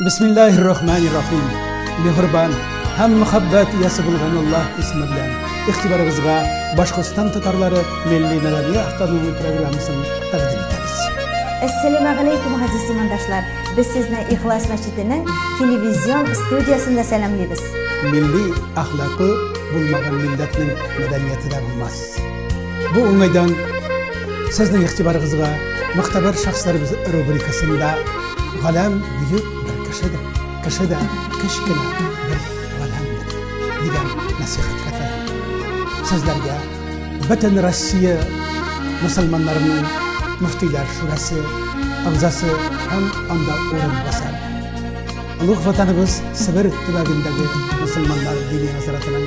Бисмиллахир рахманир рахим. Мехрибан һәм мөхәббәт иясе булган Аллаһ исеме белән игътибарыгызга Башкортстан татарлары милли мәдәни автономия программасын тәкъдим итәбез. Әссәламә галәйкүм, газиз имандашлар! Без сезне Ихлас мәчетенең телевизион студиясендә сәламлибез. Милли әхлакы булмаган милләтнең мәдәнияте дә булмас. Бу уңайдан сезнең игътибарыгызга мөхтәбәр шәхесләребез рубрикасында галәм бөек бер кешедер. Кеше дә кечкенә бер галәмдер дигән нәсихәт хәтер. Сезләргә бөтен Россия мөселманнарының мөфтиләр шурасы агзасы һәм анда урын басар. Олуг ватаныбыз Себер төбәгендәге мөселманнар дини назаратының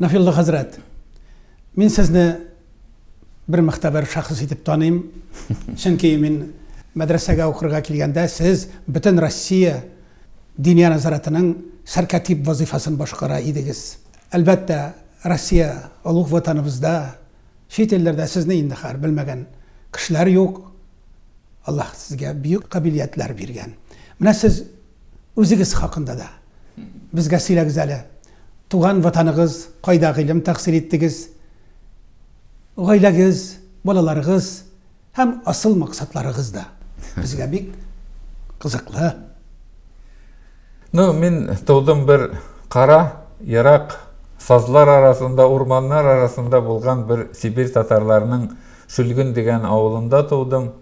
Нафилла хәзрәт, мин сезне бер мөхтәбәр шәхес итеп таныйм. Чөнки мин мәдрәсәгә укырга килгәндә сез бөтен Россия диния назаратының сәркатип вазифасын башкара идегез. Әлбәттә, Россия олуг ватаныбызда Чит илләрдә сезне инде хәер белмәгән кешеләр юк. Аллаһ сезгә бөек кабилиятләр биргән. Менә сез үзегез хакында да безгә сөйләгез әле. Туган ватаныгыз, кайда гыйлем тәхсил иттегез? Гаиләгез, балаларыгыз Һәм асыл максатларыгыз да безгә бик кызыклы. Ну, мин тудым бер кара, ерак сазлар арасында, урманнар арасында булган бер Сибирь татарларының Шөлген дигән авылында тудым.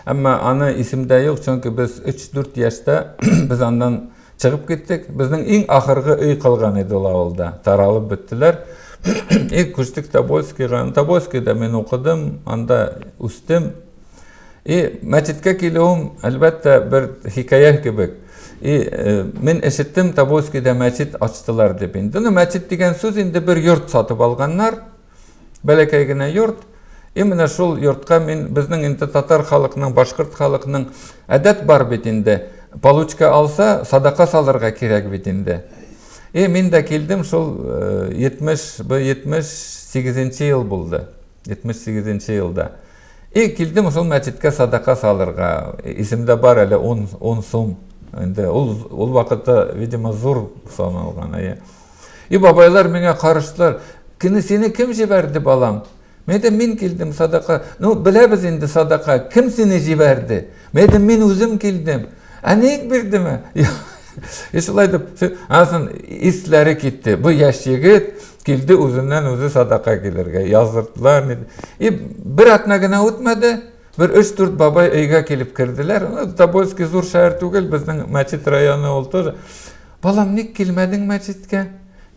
Әмма аны исемдә юк, чөнки без 3-4 яшьтә без аннан Чыгып киттек. Безнең иң ахыргы өй калган иде ул авылда. Таралып беттеләр. И, күчтек Тобольскийга. Тобольскийда мин укыдым, анда үстем. И, мәчеткә килүем, әлбәттә, бер хикәя кебек. И, э, мин ишеттем, Тобольскийда мәчет ачтылар дип инде. Ну, мәчет дигән сүз инде бер йорт сатып алганнар. Бәләкәй генә йорт, и менә шул йортка мин безнең инде татар халыкның, башкорт халыкның әдәт бар бит инде, получка алса, садака салырга кирәк бит инде. И мин дә килдем, шул 70, э, бу 78 ел булды, 78 елда. И килдем шул мәчеткә садака салырга, исемдә бар әле 10 сум, инде ул вакытта, видимо, зур саналган, әйе. И бабайлар миңа карыштылар, Кини сине ким җибәрде, балам? Мин әйтәм, мин килдем садака. Ну, беләбез инде садака, ким сине җибәрде? Мин әйтәм, мин үзем килдем. Ә ник бирдеме? И шулай дип, асын исләре китте. Бу яшь егет килде үзеннән үзе садака килергә. Яздырдылар. И бер атна гына үтмәде, бер өч дүрт бабай өйгә килеп керделәр. Тобольский зур шәһәр түгел, безнең Мәчет районы ул тоже. Балам, ник килмәдең мәчеткә?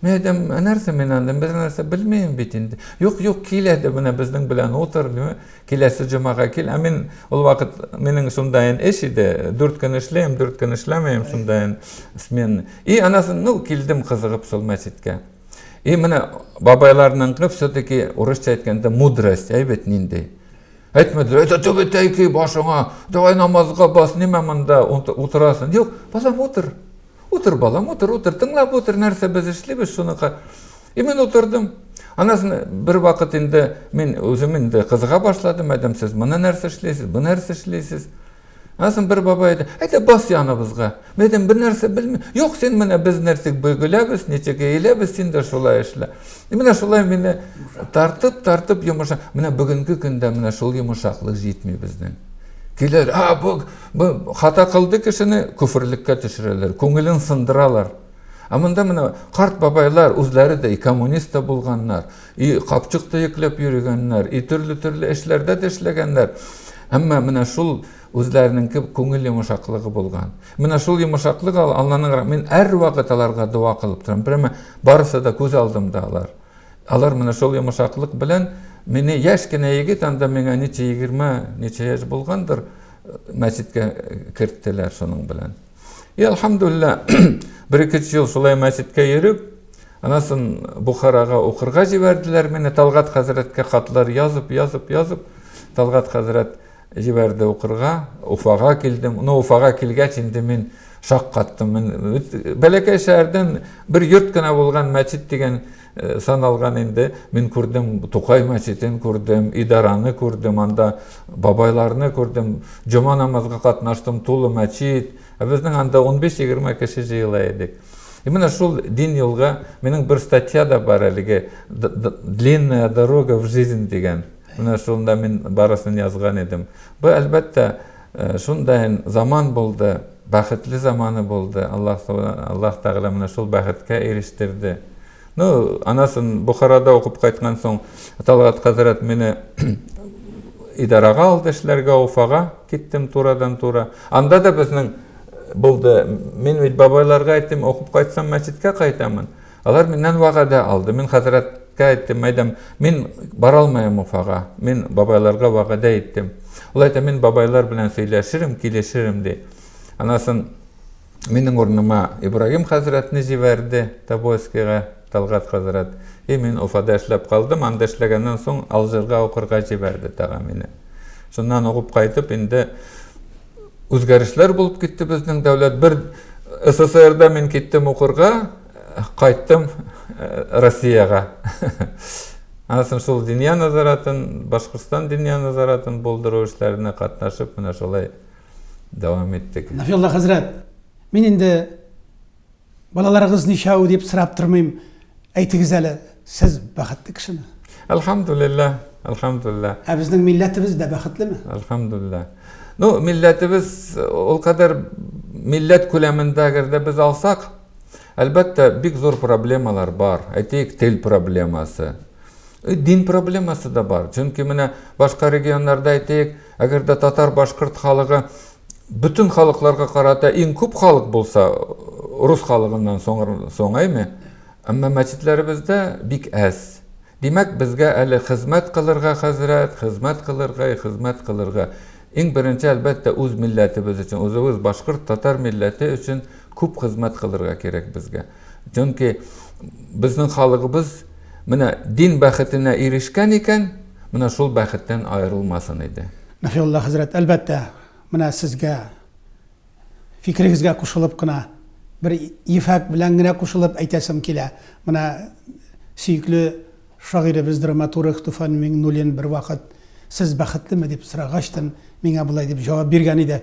Мин әйтәм, ә нәрсә мин анда, бернәрсә белмим бит инде. Юк, юк, кил әле менә безнең белән утыр, дим, киләсе җомага кил. Ә мин ул вакыт минем шундайын эш иде, дүрт көн эшлим, дүрт көн эшләмим, шундайын смен. И анасын, ну, килдем кызыгып шул мәчеткә. И менә бабайларның кып все-таки урысча әйткәндә мудрость, әйбәт нинди. Әйтмәделәр, әйтә түбәтәй ки башыңа, давай намазга бас, нимә монда утырасың? Юк, балам утыр. Утыр, балам, утыр, утыр, тыңлап утыр, нәрсә без эшлибез шуны. И мин утырдым. Анасын бер вакыт инде мин үзем инде кызыга башладым, әдәм сез моны нәрсә эшлисез, бу нәрсә эшлисез? Асын бер бабай әйтә, әйдә бас яныбызга. Мин әйтәм, бер нәрсә белмим. Юк, син менә без нәрсәк бөгеләбез, ничек әйләбез, син дә шулай эшлә. И менә шулай мине тартып, тартып йомыша. Менә бүгенге көндә менә шул йомышаклык җитми безнең. Килер, а бу, бу хата кылды кешене күферлеккә төшерәләр, күңелен сындыралар. Ә монда менә карт бабайлар үзләре дә коммунист та булганнар. И капчык төекләп йөрегәннәр, и төрле-төрле эшләрдә дә эшләгәннәр. Әмма менә шул үзләренеңке күңел йомшаклыгы булган. Менә шул йомшаклык Алланың мин һәрвакыт аларга дога кылып торам. Прямо барысы да күз алдымда алар. Алар менә шул йомшаклык белән мине яшь кенә егет анда миңа ничә егерме ничә яшь булгандыр мәчеткә керттеләр шуның белән. И алхамдулла, бер ике ел шулай мәчеткә йөреп, анасын Бухарага укырга җибәрделәр. Менә Талгат хәзрәткә хатлар язып, язып, язып, Талгат хәзрәт җибәрде укырга. Уфага килдем. Ну, Уфага килгәч инде мин шаккаттым. Бәләкәй шәһәрдән бер йорт кына булган мәчет дигән Э, сан алган инде мин күрдем тукай мәчетен күрдем идараны күрдем анда бабайларны күрдем җома намазга катнаштым тулы мәчет ә безнең анда 15-20 кеше җыела идек и менә шул дин юлга минем бер статья да бар әлеге длинная дорога в жизнь дигән менә шунда мин барысын язган идем бу әлбәттә Шунда һәм заман булды, бәхетле заманы булды, Аллаһ Аллаһ Тәгалә моны шул бәхеткә ирештерде. Ну, анасын Бухарада укып кайткан соң, Талгат хәзрәт мине идарага алды эшләргә, Уфага киттем турадан-тура. Анда да безнең булды. Мин бит бабайларга әйттем, укып кайтсам мәчеткә кайтамын. Алар миннән вәгадә алды. Мин хәзрәткә әйттем, әйдәм, мин бара алмаем Уфага. Мин бабайларга вәгадә иттем. Ул әйтә, мин бабайлар белән сөйләшерем, килешерем, ди. Анасын минем урыныма Ибраһим хәзрәтне җибәрде Тобольскига, Талгат хәзрәт. И мин Уфада эшләп калдым, анда эшләгәннән соң Алжирга укырга җибәрде тагы мине. Шуннан угып кайтып инде. үзгәрешләр булып китте безнең дәүләт. Бер СССРда мин киттем укырга, кайттым э, Россиягә. Ансын шул дөнья назаратын, Башкортстан дөнья назаратын булдыру эшләренә катнашып, менә шулай дәвам иттек. Нафилла хәзрәт, мин инде Балаларыгыз ничәү дип сорап тормыйм, әйтегез әле, сез бәхетле кешеме? Әлхәмдулилләһ, әлхәмдулилләһ. Ә безнең милләтебез дә бәхетлеме? Әлхәмдулилләһ. Ну, милләтебез ул кадәр милләт күләмендә әгәр дә без алсак, әлбәттә, бик зур проблемалар бар. Әйтик, тел проблемасы. И дин проблемасы да бар. Чөнки менә башка регионнарда әйтик, әгәр дә татар-башкорт халыгы бөтен халыкларга карата иң күп халык булса, рус халыгыннан соң әйме? Әмма мәчетләребездә бик әз. Димәк, безгә әле хезмәт кылырга, хәзрәт, хезмәт кылырга, хезмәт кылырга. Иң беренче, әлбәттә, үз милләтебез өчен, үзебез башкорт, татар милләте өчен күп хезмәт кылырга кирәк безгә. Чөнки безнең халыгыбыз менә дин бәхетенә ирешкән икән, менә шул бәхеттән аерылмасын иде. Нәфиулла хәзрәт, әлбәттә, менә сезгә, фикерегезгә кушылып кына, бер ефәк белән генә кушылып әйтәсем килә. Менә сөекле шагыйребез, драматург Туфан Миңнуллин бервакыт, Сез бәхетлеме? дип сорагач, миңа болай дип җавап биргән иде.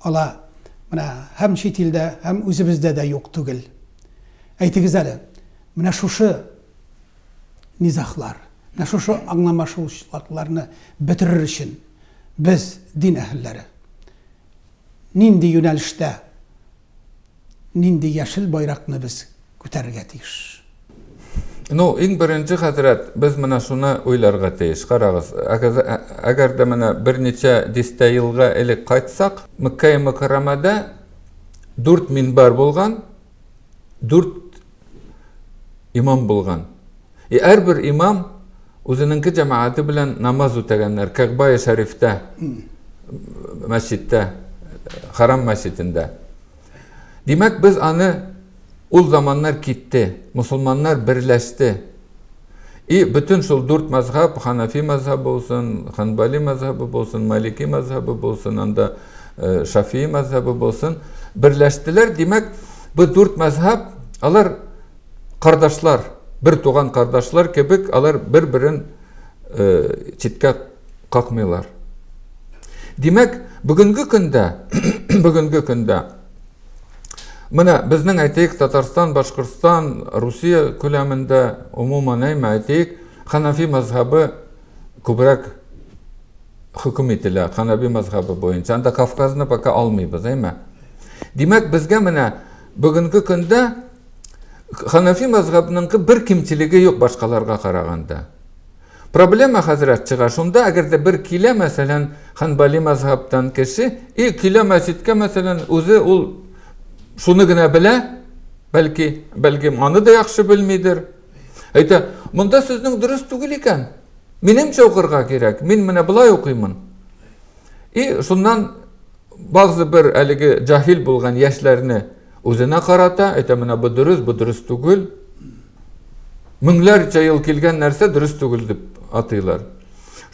ала. Менә һәм чит илдә, һәм үзебездә дә юк түгел. Әйтегез әле, менә шушы низаһлар, менә шушы аңламашылышлыкларны бетерер өчен без, дин әһелләре, нинди юнәлештә Нинди яшел байракны без күтәрергә тиеш? Ну, иң беренче, хәзрәт, без менә шуны уйларга тиеш. Карагыз, әгәр дә менә берничә дистә елга элек кайтсак, Мәккәи Мөкәррәмәдә дүрт минбәр булган, дүрт имам булган. И әрбер имам үзенеңке җәмәгате белән намаз үтәгәннәр Кәгъбае Шәрифтә, мәсҗидтә, Харам мәсҗидендә. Димәк, без аны ул заманнар китте, мусулманнар берләште. И бөтен шул дүрт мәзһәб, Ханафи мәзһәбе булсын, Ханбали мәзһәбе булсын, Малики мәзһәбе булсын, анда э, Шафии мәзһәбе булсын, берләштеләр. Димәк, бу дүрт мәзһәб, алар Кардашлар, бер туган кардашлар кебек, алар бер-берен э, читкә какмыйлар. Димәк, бүгенге көндә, бүгенге көндә Менә безнең әйтик Татарстан, Башкортстан, Русия күләмендә умуман әйме әйтик, ханафи мазһабы күбрәк хөкем ителә, ханаби мазһабы буенча. Анда Кавказны пока алмыйбыз, әйме. Димәк, безгә менә Бүгенге көндә ханафи мәзһәбенең бер кимчелеге юк башкаларга караганда. Проблема хәзрәт чыга шунда, әгәр дә бер килә, мәсәлән, ханбали мәзһәбтән кеше, и килә мәчеткә, мәсәлән, үзе ул шуны генә белә, бәлки, бәлки аны да яхшы белмидер. Әйтә, монда сезнең дөрес түгел икән. Минемчә укырга кирәк. Мин менә болай укыймын. И шуннан Багзы бер әлеге җаһил булган яшьләрне үзенә карата, әйтә менә бу дөрес, бу дөрес түгел. Меңләрчә ел килгән нәрсә дөрес түгел дип атыйлар.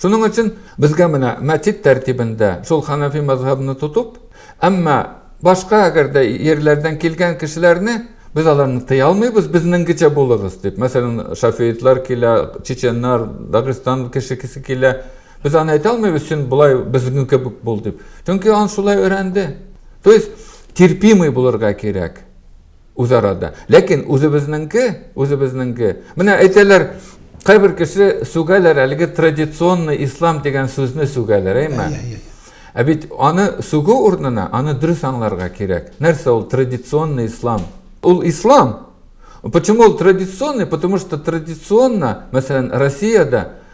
Шуның өчен безгә менә мәтит тәртибендә шул ханафи мазһабны тотып, әмма башка әгәр дә ерләрдән килгән кешеләрне без аларны тыя алмыйбыз, безнеңгечә булыгыз дип. Мәсәлән, шафиитлар килә, чеченнар, Дагыстан кешесе килә. Без аны әйтә алмыйбыз, чын болай безнең кебек бул дип. Чөнки ан шулай өйрәнде. То есть терпимый булырга кирәк үзарада. Ләкин үзебезнеңке, үзебезнеңке. Менә әйтәләр, кайбер кеше сүгәләр әлеге традиционный ислам дигән сүзне сүгәләр, әйме? Ә бит аны сүгү урынына аны дөрес аңларга кирәк. Нәрсә ул традиционный ислам? Ул ислам. Почему ул традиционный? Потому что традиционно, мәсәлән, Россиядә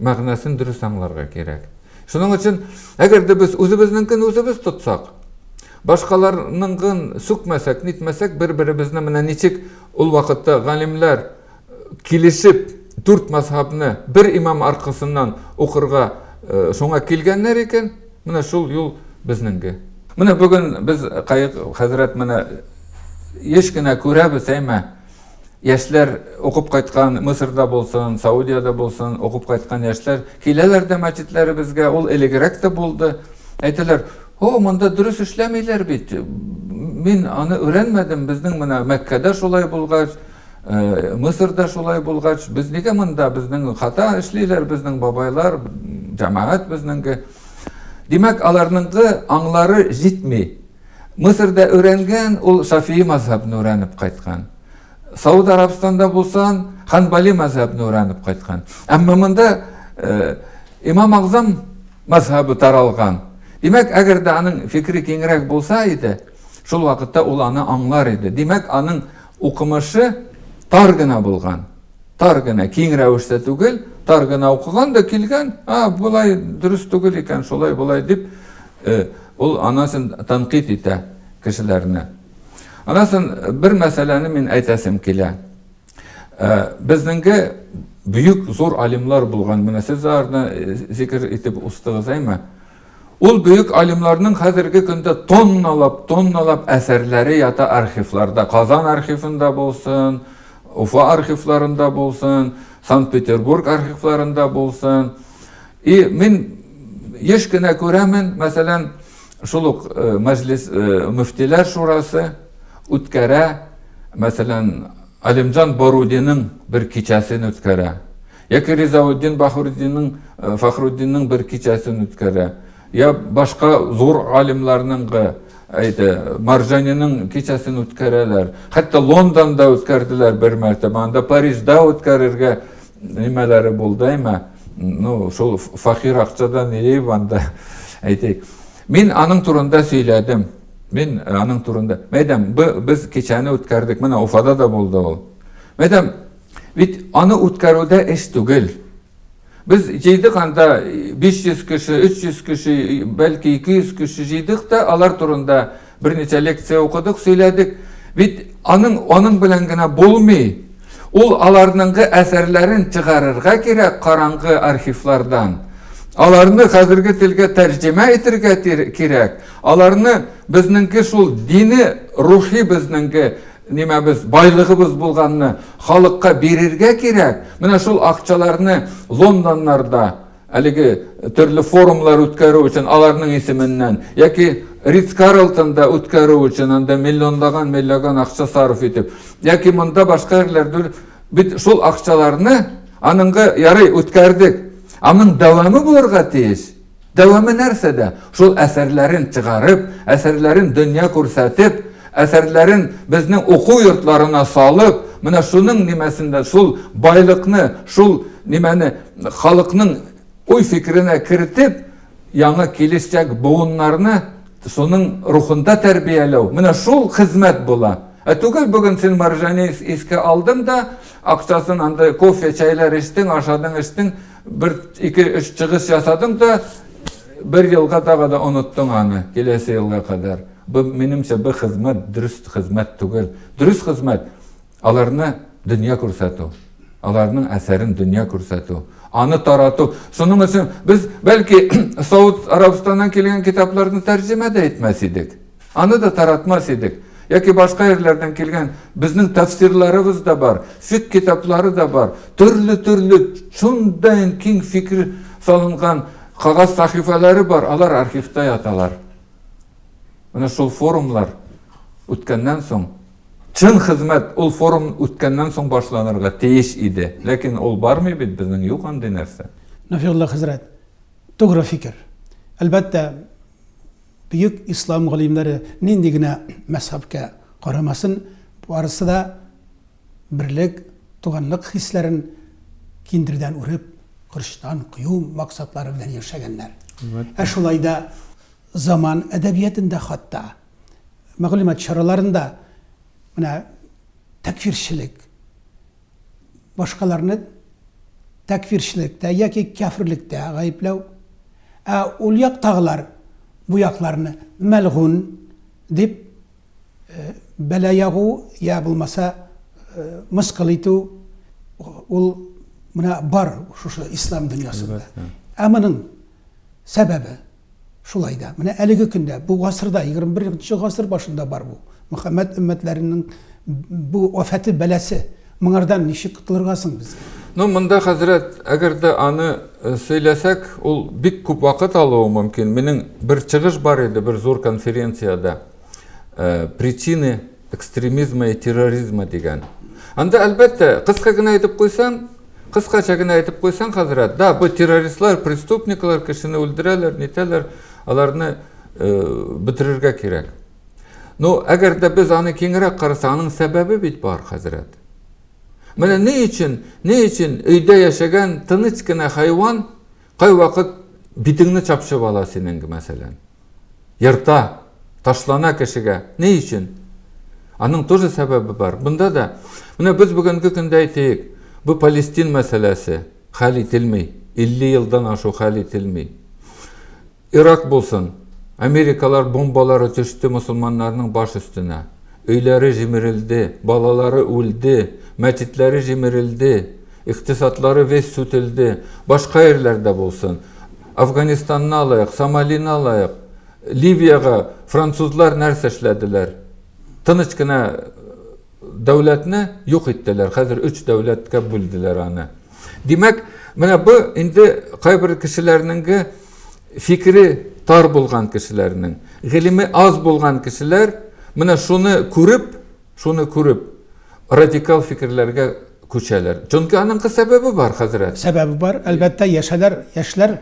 мәгънәсен дөрес аңларга кирәк. Шуның өчен, әгәр дә без үзебезнеңкен үзебез тотсак, башкаларныңгын сүкмәсәк, нитмәсәк, бер-беребезне менә ничек ул вакытта галимнәр килешеп дүрт мәзһабны бер имам аркасыннан укырга шуңа килгәннәр икән, менә шул юл безнеңге. Менә бүген без Каек хәзрәт менә еш кенә күрәбез, әйме, яшьләр укып кайткан Мысырда булсын, Саудиядә булсын, укып кайткан яшьләр киләләр дә мәчетләребезгә, ул элегрәк тә булды. Әйтәләр, "О, монда дөрес эшләмиләр бит. Мин аны өйрәнмәдем. Безнең менә Мәккәдә шулай булгач, э, Мысырда шулай булгач, без нигә монда безнең хата эшлиләр безнең бабайлар, җәмәгать безнеңге?" Димәк, аларныңгы аңлары җитми. Мысырда өйрәнгән, ул Шафии мазһәбне өйрәнеп кайткан. Сауд Арабстанда булсан, Ханбали мазһәбне өйрәнеп кайткан. Әмма монда э, Имам Агзам мазһәбе таралган. Димәк, әгәр дә аның фикере киңрәк булса иде, шул вакытта ул аны аңлар иде. Димәк, аның укымышы тар гына булган. Тар гына, киң рәвештә түгел, тар гына укыган да килгән, а, болай дөрес түгел икән, шулай, болай дип, э, Ул анасын тәнкыйть итә кешеләрне. Анасын бер мәсьәләне мин әйтәсем килә. Э, безнеңге бөек зур алимлар булган, менә сез аларны э, зикер итеп устыгыз, әйме? Ул бөек алимларның хәзерге көндә тонналап, тонналап әсәрләре ята архивларда. Казан архивында булсын, Уфа архивларында булсын, Санкт-Петербург архивларында булсын. И мин еш кенә күрәмен, мәсәлән, шул ук э, мәҗлис э, мөфтиләр шурасы үткәрә, мәсәлән, Алимҗан Борудинның бер кичәсен үткәрә. Яки Ризауддин Бахруддинның э, Фахруддинның бер кичәсен үткәрә. Я башка зур алимларның әйде, Маржаниның кичәсен үткәрәләр. Хәтта Лондонда үткәрделәр бер мәртәбә, анда Парижда үткәрергә Нимәләре булды, әйме? Ну, шул фахир акчадан нее банда, әйтик. Мин аның турында сөйләдем. Мин э, аның турында. Мәйдәм, без кичәне үткәрдек, менә Уфада да булды ул. Мәйдәм, бит аны үткәрүдә эш түгел. Без җыйдык анда 500 э, кеше, 300 кеше, э, бәлки 200 кеше җыйдык та алар турында Берничә лекция укыдык, сөйләдек. Бит аның аның белән генә булмый. Ул аларныңгы әсәрләрен чыгарырга кирәк караңгы архивлардан. Аларны хәзерге телгә тәрҗемә итергә кирәк. Аларны безнеңге шул дини, рухи безнеңге нимәбез, байлыгыбыз булганны халыкка бирергә кирәк. Менә шул акчаларны Лондоннарда Әлеге төрле форумлар үткәрү өчен аларның исеменнән яки Ридс Карлтонда үткәрү өчен анда миллионлаган миллиоган акча сарыф итеп, яки монда башка җирләрдә бит шул акчаларны аныңгы ярый үткәрдек. Аның дәвамы булырга тиеш. Дәвамы нәрсәдә? Шул әсәрләрен чыгарып, әсәрләрен дөнья күрсәтеп, әсәрләрен безнең уку йортларына салып, менә шуның нимәсендә шул байлыкны, шул нимәне халыкның уй-фикеренә кертеп, яңа килешчәк буыннарны шуның рухында тәрбияләү, менә шул хезмәт була. Ә түгел бүген син Маржани искә алдың да, акчасын анда кофе, чәйләр эчтең, ашадың, эчтең, бер, ике, өч чыгыш ясадың да, бер елга тагы да оныттың аны, киләсе елга кадәр. Бу, минемчә, бу хезмәт дөрес хезмәт түгел. Дөрес хезмәт, Аларны дөнья күрсәтү, аларның әсәрен дөнья күрсәтү, аны тарату. Шуның өчен без бәлки Сауд Арабстаннан килгән китапларны тәрҗемә дә итмәс идек. Аны да таратмас идек. Яки башка ерләрдән килгән безнең тәфсирларыбыз да бар, фик китаплары да бар. Төрле-төрле шундый киң фикер салынган кагаз сахифалары бар, алар архивта яталар. Менә шул форумлар үткәннән соң Чын хезмәт ул форум үткәннән соң башланырга тиеш иде, ләкин ул бармый бит, безнең юк андый нәрсә. Нафигулла хәзрәт, тугры фикер. Әлбәттә, бөек ислам галимнәре нинди генә мәзһәбкә карамасын, барысы да берлек, туганлык хисләрен киндердән үреп, кырчтан кую максатлары белән яшәгәннәр. Ә шулай да заман әдәбиятында хатта мәгълүмат чараларында менә тәкфирчелек, башкаларны тәкфирчелектә яки кяферлектә гаепләү, ә ул яктагылар бу якларны мәлгун дип бәла ягу я булмаса мыскыл итү, ул менә бар шушы ислам дөньясында. Ә моның сәбәбе? Шулай да, менә әлеге көндә, бу гасырда, егерме беренче гасыр башында бар бу Мөхәммәд өммәтләренең бу афәте, бәласе. Моңардан ничек котылырга соң безгә? Ну, монда, хәзрәт, әгәр дә аны э, сөйләсәк, ул бик күп вакыт алуы мөмкин. Минем бер чыгыш бар иде бер зур конференциядә. Э, причины экстремизма и терроризма дигән. Анда, әлбәттә, кыска гына әйтеп куйсам, Кыскача генә әйтеп куйсаң, хәзрәт, да, бу террористлар, преступниклар, кешене үлдерәләр, нитәләр, аларны бетерергә кирәк. Ну, әгәр дә без аны киңрәк карасак, аның сәбәбе бит бар, хәзрәт. Менә ни өчен, ни өчен өйдә яшәгән тыныч кына хайван Кайвакыт битеңне чапчып ала синең, мәсәлән. Ерта, ташлана кешегә. Ни өчен? Аның тоже сәбәбе бар. Бында да, менә без бүгенге көндә әйтик, бу Палестин мәсьәләсе хәл ителми. 50 елдан ашу хәл ителми. Ирак булсын, америкалар бомбалары төште мосылманнарның баш өстенә. Өйләре җимерелде, балалары үлде, мәчетләре җимерелде, икътисадлары весь сүтелде. Башка ерләрдә булсын. Афганистанны алыйк, Сомалины алыйк, Ливиягә французлар нәрсә эшләделәр? Тыныч кына Дәүләтне юк иттеләр. Хәзер өч дәүләткә бүлделәр аны. Димәк, менә бу инде кайбер кешеләрнеңге фикере тар булган кешеләрнең, гыйлеме аз булган кешеләр менә шуны күреп, шуны күреп радикал фикерләргә күчәләр. Чөнки аның сәбәбе бар, хәзрәт. Сәбәбе бар. Әлбәттә, яшәләр, яшьләр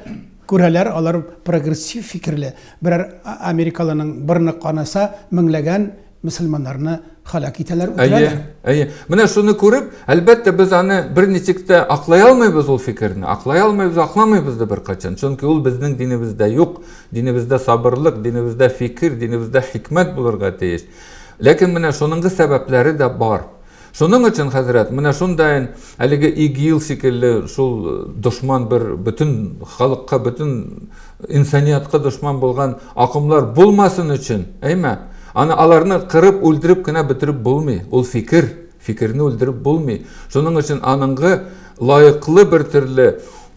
күрәләр, алар прогрессив фикерле. Берәр америкалының борны канаса, меңләгән мөселманнарны халак итәләр, үтерәләр. Әйе, әйе. Менә шуны күреп, әлбәттә, без аны бер ничек тә аклай алмыйбыз ул фикерне. Аклай алмыйбыз, акламыйбыз да беркайчан. Чөнки ул безнең динебездә юк. Динебездә сабырлык, динебездә фикер, динебездә хикмәт булырга тиеш. Ләкин менә шуныңгы сәбәпләре дә бар. Шуның өчен, хәзрәт, менә шундаен, әлеге ИГИЛ шикелле шул дошман бер бөтен халыкка, бөтен инсаниятка дошман булган акымлар булмасын өчен, әйме? Аны аларны кырып, үлдереп кенә бетереп булмый. Ул фикер, фикерне үлдереп булмый. Шуның өчен аныңгы лаеклы бер төрле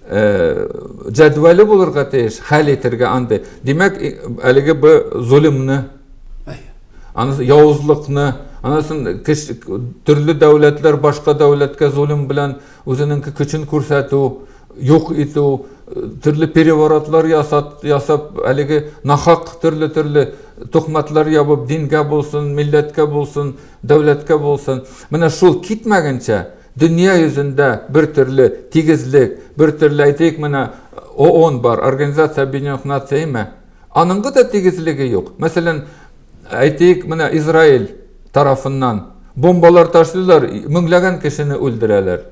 җәдвәле булырга тиеш, хәл итергә андый. Димәк, әлеге б золымны, анысы явызлыкны анысын төрле дәүләтләр башка дәүләткә золим белән үзенеңки көчен күрсәтү юк итү төрле переворотлар ясат, ясап әлеге нахак төрле төрле тухматлар ябып дингә булсын милләткә булсын дәүләткә булсын менә шул китмәгәнчә дөнья йөзендә бер төрле тигезлек бер төрле әйтик менә оон бар организация объединенных наций ме Аныңгы да тигезлеге юк. Мәсәлән, әйтик, менә Израиль тарафыннан бомбалар ташлыйлар, меңләгән кешене үлдерәләр.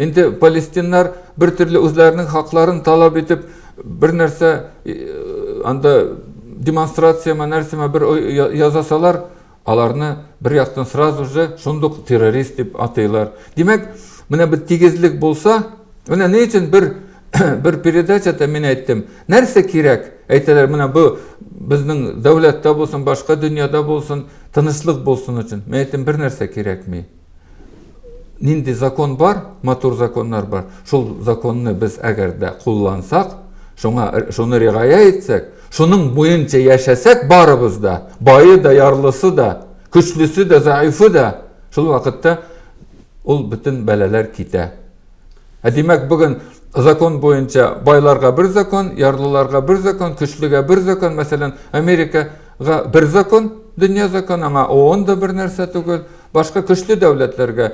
Инде палестиннар бер төрле үзләренең хакларын талап итеп, бер нәрсә анда демонстрацияме, нәрсәме бер язасалар, Аларны бер яктан сразу же шундук террорист дип атыйлар. Димәк, менә бер тигезлек булса, менә ни өчен бер бер передачада мин әйттем, нәрсә кирәк? Әйтәләр, менә бу безнең дәүләттә булсын, башка дөньяда булсын, тынычлык булсын өчен. Мин әйттем, бер нәрсә кирәкми. нинди закон бар, матур законнар бар, шул законны без әгәр дә куллансак, шуңа, шуны ригая итсәк, шуның буенча яшәсәк барыбыз да, байы да, ярлысы да, көчлесе дә, заифы да, шул вакытта ул бөтен бәләләр китә. Ә димәк, бүген закон буенча байларга бер закон, ярлыларга бер закон, көчлегә бер закон, мәсәлән, Америкага бер закон, дөнья закон, аңа ООН да бер нәрсә түгел, Башка көчле дәүләтләргә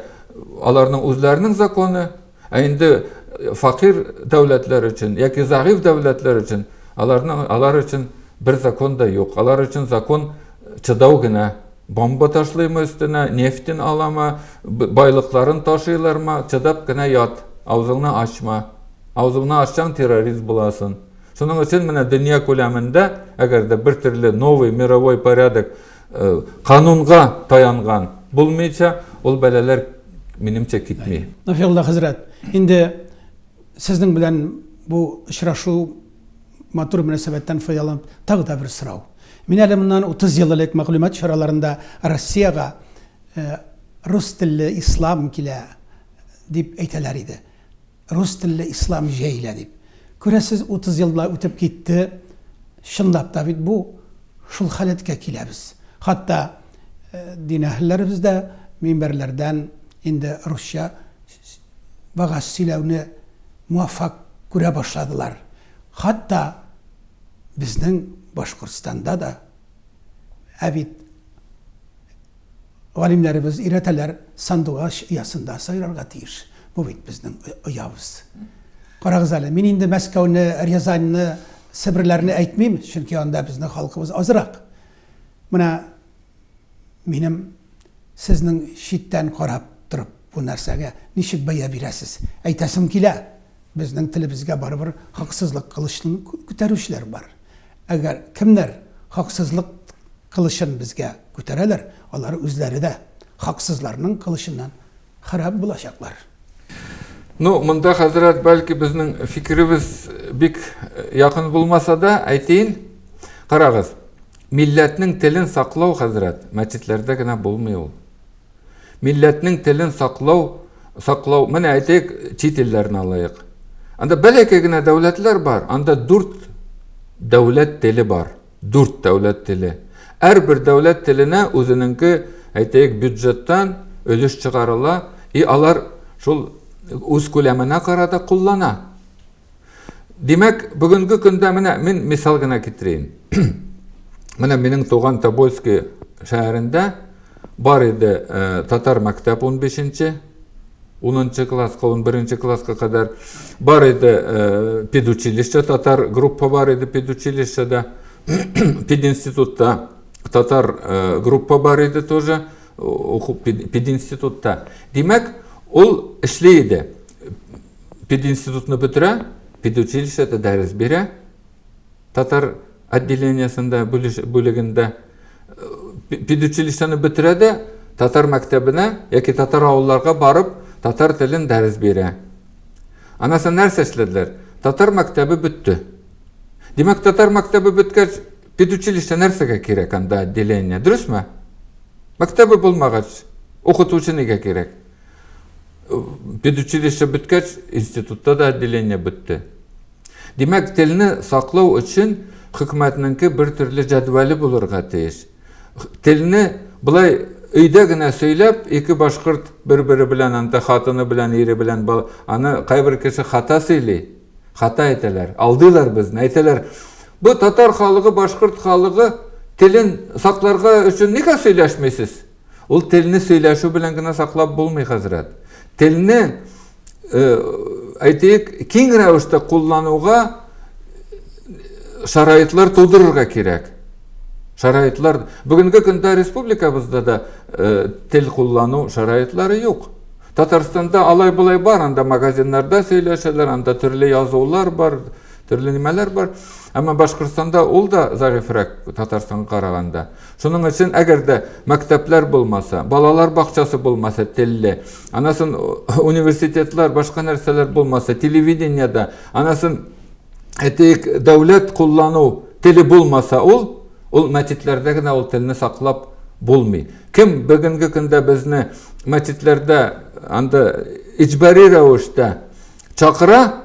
аларның үзләренең законы, ә инде факир дәүләтләр өчен яки зәгыйфь дәүләтләр өчен аларның алар өчен бер закон да юк. Алар өчен закон чыдау генә. Бомба ташлыймы өстенә, нефтен аламы, байлыкларын ташыйлармы, чыдап кенә ят, авызыңны ачма. Авызыңны ачсаң, террорист буласын. Шуның өчен менә дөнья күләмендә, әгәр дә бер төрле новый мировой порядок Канунга таянган булмыйча, ул бәлаләр, минемчә, китми. Нафиулла хәзрәт, инде сезнең белән бу очрашу матур мөнәсәбәттән файдаланып, тагы да бер сорау. Мин әле моннан 30 ел элек мәгълүмат чараларында Россиягә рус телле ислам килә дип әйтәләр иде. Рус телле ислам җәелә дип. Күрәсез, утыз ел болай үтеп китте. Чынлап та бит бу шул халәткә киләбез. Хатта дин әһелләребез дә минбәрләрдән инде русча вагаз сөйләүне муаффак күрә башладылар. Хатта безнең Башкортстанда да. Ә бит. Галимнәребез өйрәтәләр, сандугач оясында сайрарга тиеш. Бу бит безнең оябыз. Карагыз әле, мин инде Мәскәүне, Рязаньны, Себерләрне әйтмим, чөнки анда безнең халкыбыз азрак. Менә минем сезнең читтән карап торып бу нәрсәгә ничек бәя бирәсез? Әйтәсем килә. Безнең телебезгә барыбер хаксызлык кылычын күтәрүчеләр бар. Әгәр кемнәр хаксызлык кылычын безгә күтәрәләр, алар үзләре дә хаксызларның кылычыннан харап булачаклар. Ну, монда, хәзрәт, бәлки безнең фикеребез бик якын булмаса да, әйтейин. Карагыз, милләтнең телен саклау, хәзрәт, мәчетләрдә генә булмый ул. Милләтнең телен саклау, саклау, менә әйтик, чит илләрне алайык. Анда бәләкәй генә дәүләтләр бар, анда дүрт дәүләт теле бар, дүрт дәүләт теле. Әрбер дәүләт теленә үзенеңке, әйтәек, бюджеттан өлеш чыгарыла, и алар шул үз күләменә карата куллана. Димәк, бүгенге көндә менә мин мисал гына китерәйм. Менә минем туган Тобольский шәһәрендә бар иде э, татар мәктәп 15-нче, 10-нчы класска, 11-нче класска кадәр бар иде э, педучилище, татар группа бар иде педучилищеда, пединститутта татар э, группа бар иде тоже, уку пединститутта. Димәк, ул эшли иде. Пединститутны бетерә, педучилищеда дәрес бирә, татар отделениесендә, бүлегендә. Педучилищены бетерә дә, татар мәктәбенә яки татар авылларга барып, татар телен дәрес бирә. Анасы нәрсә эшләделәр? Татар мәктәбе бетте. Димәк, татар мәктәбе беткәч, педучилище нәрсәгә кирәк анда отделение, дөресме? Мәктәбе булмагач, укытучы нигә кирәк? Педучилище беткәч, институтта да отделение бетте. Димәк, телне саклау өчен хөкүмәтнеңке бер төрле җәдвәле булырга тиеш. Телне былай өйдә генә сөйләп, ике башкорт бер-бере белән, анда хатыны белән, ире белән, аны кайбер кеше хата сөйли, хата әйтәләр, алдыйлар безне, әйтәләр, бу татар халыгы, башкорт халыгы телен сакларга өчен нигә сөйләшмисез? Ул телне сөйләшү белән генә саклап булмый, хәзрәт. Телне, э, әйтик, киң рәвештә куллануга шарайтлар тудырырга кирәк. Шарайтлар, бүгенге көндә республикабызда да э, тел куллану шарайтлары юк. Татарстанда алай булай бар, анда магазиннарда сөйләшәләр, анда төрле язулар бар, төрле нимәләр бар. Әмма Башкортстанда ул да зәгыйфрәк Татарстанга караганда. Шуның өчен, әгәр дә мәктәпләр булмаса, балалар бакчасы булмаса, телле, анасын университетлар, башка нәрсәләр булмаса, телевидениедә, анасын әйтик, дәүләт куллану теле булмаса, ул ул мәчетләрдә генә ул телне саклап булмый. Кем бүгенге көндә безне мәчетләрдә анда иҗбари рәвештә чакыра,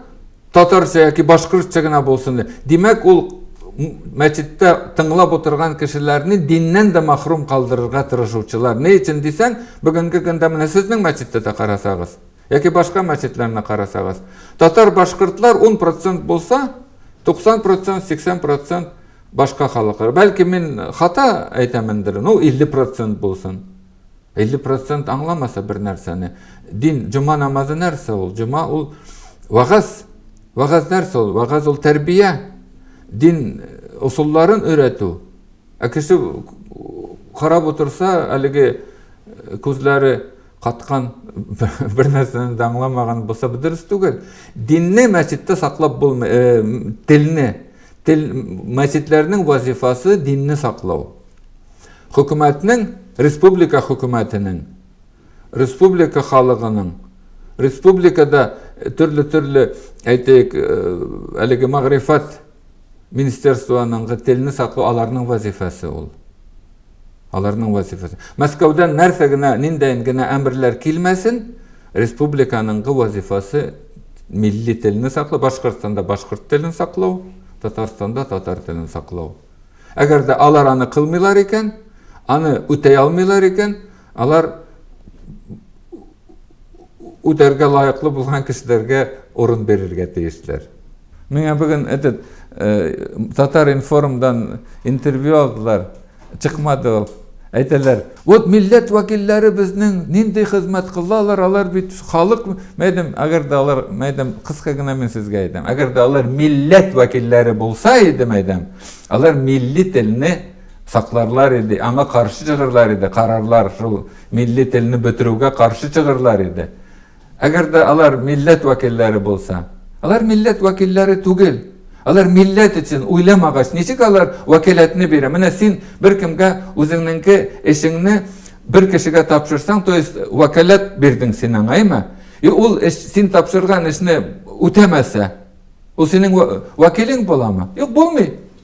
Татарча яки башкортча гына булсын. Димәк, ул мәчеттә тыңлап отырган кешеләрне диннән дә махрум калдырырга тырышучылар. Ни өчен дисәң, бүгенге көндә менә сезнең мәчеттә дә карасагыз, яки башка мәчетләрне карасагыз, татар башкортлар 10% булса, 90%, 80% башка халыклар. Бәлки мин хата әйтәмендер, ну 50% булсын. 50 процент аңламаса бер нәрсәне. Дин, җома намазы нәрсә ул? Җома ул вагаз. Вагаз нәрсә ул? Вагаз ул тәрбия. Дин усулларын э, өйрәтү. Ә кеше карап отырса, әлеге э, күзләре каткан бер нәрсәне дә аңламаган булса, бу дөрес түгел. Динне мәчеттә саклап булмый, э, телне, тел мәчетләрнең вазифасы динне саклау. Хөкүмәтнең, республика хөкүмәтенең, республика халыгының, республикада төрле-төрле, әйтик, әлеге мәгърифәт министерствоның телне саклау аларның вазифасы ул. Аларның вазифасы. Мәскәүдән нәрсә генә, ниндәен генә әмерләр килмәсен, республиканың вазифасы милли телне саклау, Башкортстанда башкорт телен саклау, Татарстанда татар телен саклау. Әгәр дә алар аны кылмыйлар икән, аны үтәй алмыйлар икән, алар үтәргә лаеклы булган кешеләргә урын бирергә тиешләр. Миңа бүген этот э, Татар информдан интервью алдылар, чыкмады ул. Әйтәләр, Вот милләт вәкилләре безнең нинди хезмәт кылалар, алар бит халык, мәйдәм, әгәр дә алар, мәйдәм, кыска гына мин сезгә әйтәм, әгәр дә алар милләт вәкилләре булса иде, мәйдәм, алар милли телне сакларлар иде, аңа каршы чыгырлар иде, карарлар шул милли телне бетерүгә каршы чыгырлар иде. Әгәр дә алар милләт вәкилләре булса. Алар милләт вәкилләре түгел. Алар милләт өчен уйламагач, ничек алар вәкаләтне бирә? Менә син беркемгә үзеңнеңке эшеңне бер кешегә тапшырсаң, то есть вәкаләт бирдең син аңа, әйме? И ул эш, син тапшырган эшне үтәмәсә, ул синең вәкилең буламы? Юк, булмый.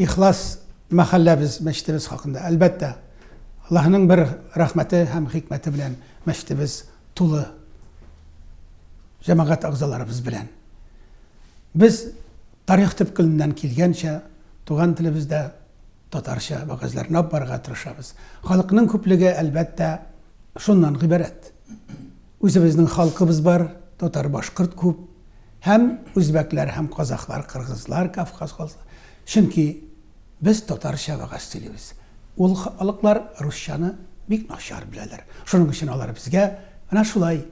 Ихлас мәхәлләбез, мәчетебез хакында. Әлбәттә, Аллаһының бер рәхмәте һәм хикмәте белән мәчетебез тулы җәмәгать әгъзаларыбыз белән. Без тарих төпкеленнән килгәнчә туган телебездә татарча вәгазьләрне алып барырга тырышабыз. Халыкның күплеге, әлбәттә, шуннан гыйбарәт. Үзебезнең халкыбыз бар, татар-башкорт күп, һәм үзбәкләр һәм казахлар, кыргызлар, кавказ халыклары. Чөнки без татарча вәгазь сөйлибез. Ул халыклар русчаны бик начар беләләр. Шуның өчен алар безгә менә шулай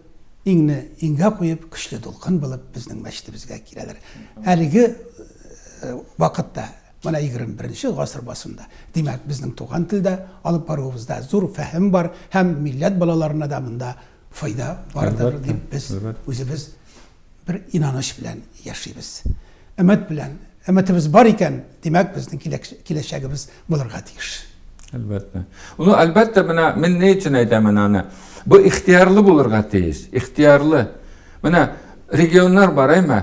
иңне иңгә куеп, көчле дулкын булып безнең мәчетебезгә киләләр. Әлеге вакытта Менә егерме беренче гасыр басында. Димәк, безнең туган телдә алып баруыбызда зур фәһем бар һәм милләт балаларына да монда файда бардыр дип без үзебез бер инаныч белән яшибез. Өмет белән. Өметебез бар икән, димәк, безнең киләчәгебез булырга тиеш. Әлбәттә. Ул әлбәттә менә мин ни өчен әйтәмен аны? Бу ихтиярлы булырга тиеш. Ихтиярлы. Менә регионнар бар, әйме?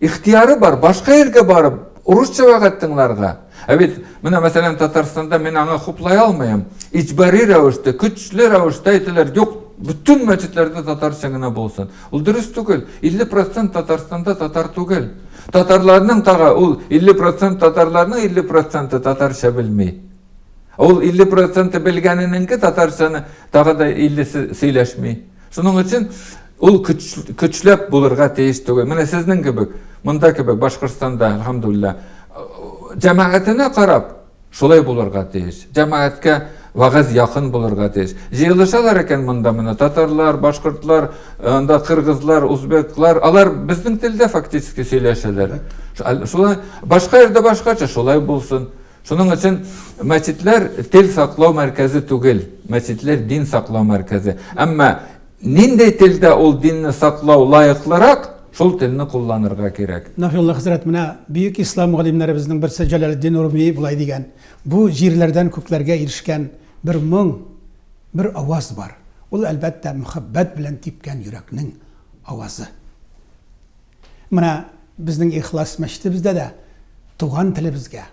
ихтыяры бар, башка илгә барып, урысча вәгать тыңларга. Ә бит, менә мәсәлән, Татарстанда мин аңа хуплай алмыйм. Иҗбари рәвештә, көчле рәвештә әйтәләр, юк, бөтен мәчетләрдә татарча гына булсын. Ул дөрес түгел. 50% Татарстанда татар түгел. Татарларның тагы ул 50% татарларның 50% татарча белми. Ул 50% белгәненеңке татарчаны тагы да 50-се сөйләшми. Шуның өчен ул көчләп булырга тиеш түгел. Менә сезнең кебек, монда кебек Башкортстанда, алхамдулилла, җәмәгатенә карап, шулай булырга тиеш. Җәмәгатькә вагыз якын булырга тиеш. Җыелышалар икән монда менә татарлар, башкортлар, анда кыргызлар, узбеклар, алар безнең телдә фактически сөйләшәләр. Шулай башка җирдә башкача, шулай булсын. Шуның өчен мәчетләр тел саклау мәркәзе түгел, мәчетләр дин саклау мәркәзе. Әмма нинди телдә ул динне саклау лаеклырак, шул телне кулланырга кирәк. Нафиулла хәзрәт, менә бөек ислам галимнәребезнең берсе Җәләлетдин Руми болай дигән, Бу җирләрдән күкләргә ирешкән бер моң, бер аваз бар. Ул, әлбәттә, мөхәббәт белән типкән йөрәкнең авазы. Менә безнең Ихлас мәчетебездә дә туган телебезгә,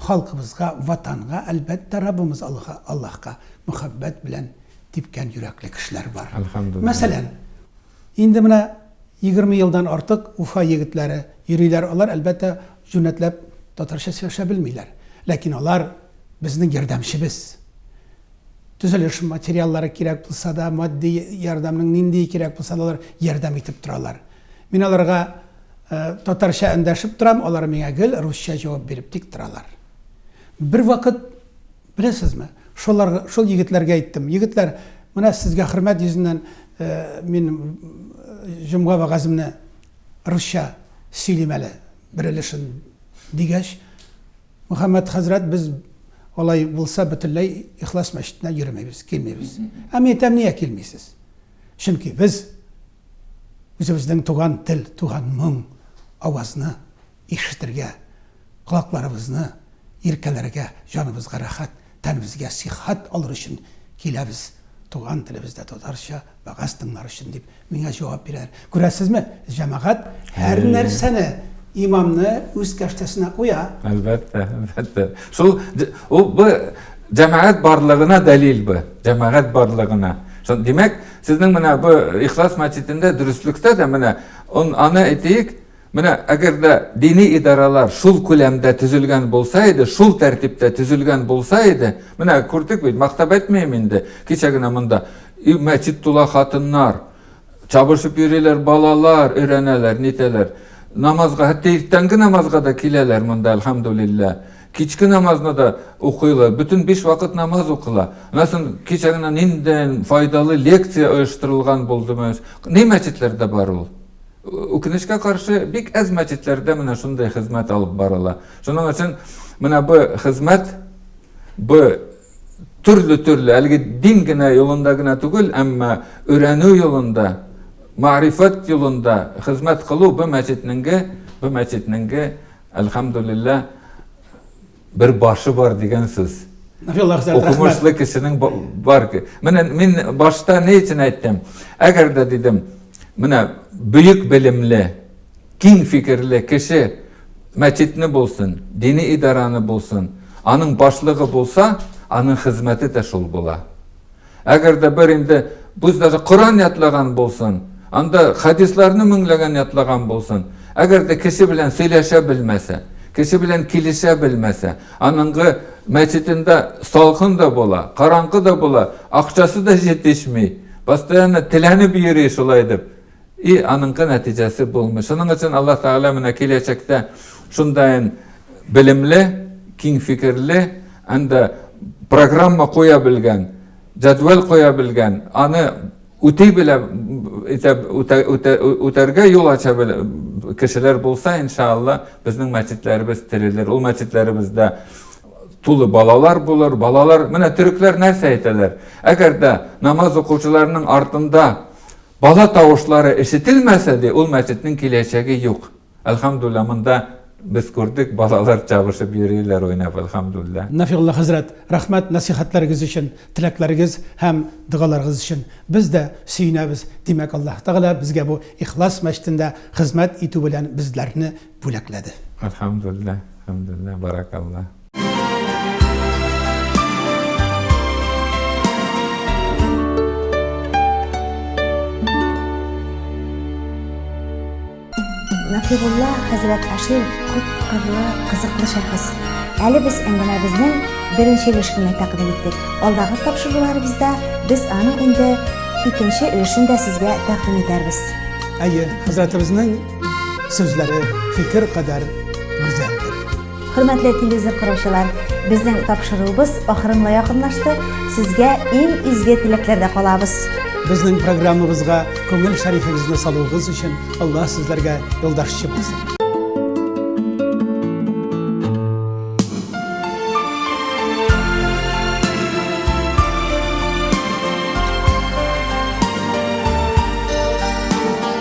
халкыбызга, Ватанга, әлбәттә, Раббыбыз Аллаһка, Аллаһка мәхәббәт белән типкән йөрәкле кешеләр бар. Әлхәмдуллиһ. Мәсәлән, инде менә егерме елдан артык Уфа егетләре йөриләр, алар, әлбәттә, җүнәтләп татарча сөйләшә белмиләр, ләкин алар безнең ярдәмчебез. Төзелеш материаллары кирәк булса да, матди ярдәмнең ниндие кирәк булса да, алар ярдәм итеп торалар. Мин аларга татарча эндәшеп торам, алар миңа гел русча җавап биреп тик торалар. Бервакыт, беләсезме, шулар, шул егетләргә әйттем, егетләр, менә сезгә хөрмәт йөзеннән мин җомга вәгаземне русча сөйлим әле, бер өлешен, дигәч, Мөхәммәд хәзрәт, без алай булса бөтенләй Ихлас мәчетенә йөремәйбез, килмибез. Ә мин әйтәм, нигә килмисез? Чөнки без үзебезнең туган тел, туган моң, авазны ишетергә, колакларыбызны иркәләргә, җаныбызга рәхәт, тәнебезгә сихәт алыр өчен киләбез. Туган телебездә татарча Вәгазь тыңлар өчен, дип, миңа җавап бирәләр. Күрәсезме, җәмәгать һәр нәрсәне, имамны үз кәштәсенә куя. Әлбәттә, әлбәттә. Шул ул бу җәмәгать барлыгына дәлил бу. Җәмәгать барлыгына. Шул димәк, сезнең менә бу Ихлас мәчетендә дөреслектә дә менә аны әйтик, Менә әгәр дә дини идарәләр шул күләмдә төзелгән булса иде, шул тәртиптә төзелгән булса иде, менә күрдек бит, мактап әйтмим инде, кичә генә монда и мәчет тула хатыннар, чабышып йөриләр балалар, өйрәнәләр, нитәләр. Намазга, хәтта иртәнге намазга да киләләр монда, әлхәмдулилләһ. Кичке намазны да укыйлар, бөтен биш вакыт намаз укыла. Аннан кичә генә ниндәй файдалы лекция оештырылган булды, ни мәчетләрдә бар ул? Үкенечкә каршы, бик әз мәчетләрдә менә шундый хезмәт алып барыла. Шуның өчен менә бу хезмәт бу төрле-төрле, әлеге дин генә юлында гына түгел, әмма өйрәнү юлында, мәгърифәт юлында хезмәт кылу бу мәчетнеңге, бу мәчетнеңге, әлхәмдулиллаһ, Бер башы бар дигән сүз. Укымышлы кешенең бар. Менә мин башта ни өчен әйттем? Әгәр дә дидем, менә бөек белемле, киң фикерле кеше мәчетне булсын, дини идараны булсын, аның башлыгы булса, аның хезмәте дә шул була. Әгәр дә бер инде без даже Коран ятлаган булсын, анда хадисларны меңләгән ятлаган булсын, әгәр дә кеше белән сөйләшә белмәсә, кеше белән килешә белмәсә, аныңгы мәчетендә салкын да була, караңгы да була, акчасы да җитешми, постоянно теләнеп йөри шулай дип. И аныңкы нәтиҗәсе булмый. Шуның өчен Аллаһ Тәгалә менә киләчәктә шундайын белемле, киң фикерле, әндә программа куя белгән, җәдвәл куя белгән, аны үти белә үтәргә юл ача кешеләр булса, иншалла, безнең мәчетләребез терелер. Ул мәчетләребездә тулы балалар булыр. Балалар, менә төрекләр нәрсә әйтәләр? Әгәр дә намаз укучыларның артында Бала тавышлары ишетелмәсә дә, ул мәчетнең киләчәге юк. Әлхәмдуллаһ, монда без күрдек, балалар чабышып йөриләр уйнап, әлхәмдуллаһ. Нафигулла хәзрәт, рәхмәт нәсыйхәтләрегез өчен, теләкләрегез һәм догаларыгыз өчен. Без дә сөенәбез, димәк, Аллаһ Тәгалә безгә бу Ихлас мәчетендә хезмәт итү белән безләрне бүләкләде. Әлхәмдуллаһ, әлхәмдуллаһ, баракаллаһ. Нәкыйбулла хәзрәт Ашин күп кырлы, кызыклы шәхес. Әле без әңгәмәбезнең беренче өлешен тәкъдим иттек. Алдагы тапшыруларыбызда без аның инде икенче өлешен дә сезгә тәкъдим итәрбез. Әйе, хәзрәтебезнең сүзләре фикер кадәр гүзәлдер. Хөрмәтле телевизор караучылар, безнең тапшыруыбыз ахырына якынлашты. Сезгә иң изге теләкләрдә калабыз. Безнең программабызга күңел шәрифегезне салуыгыз өчен Аллаһ сезләргә юлдашчы булсын.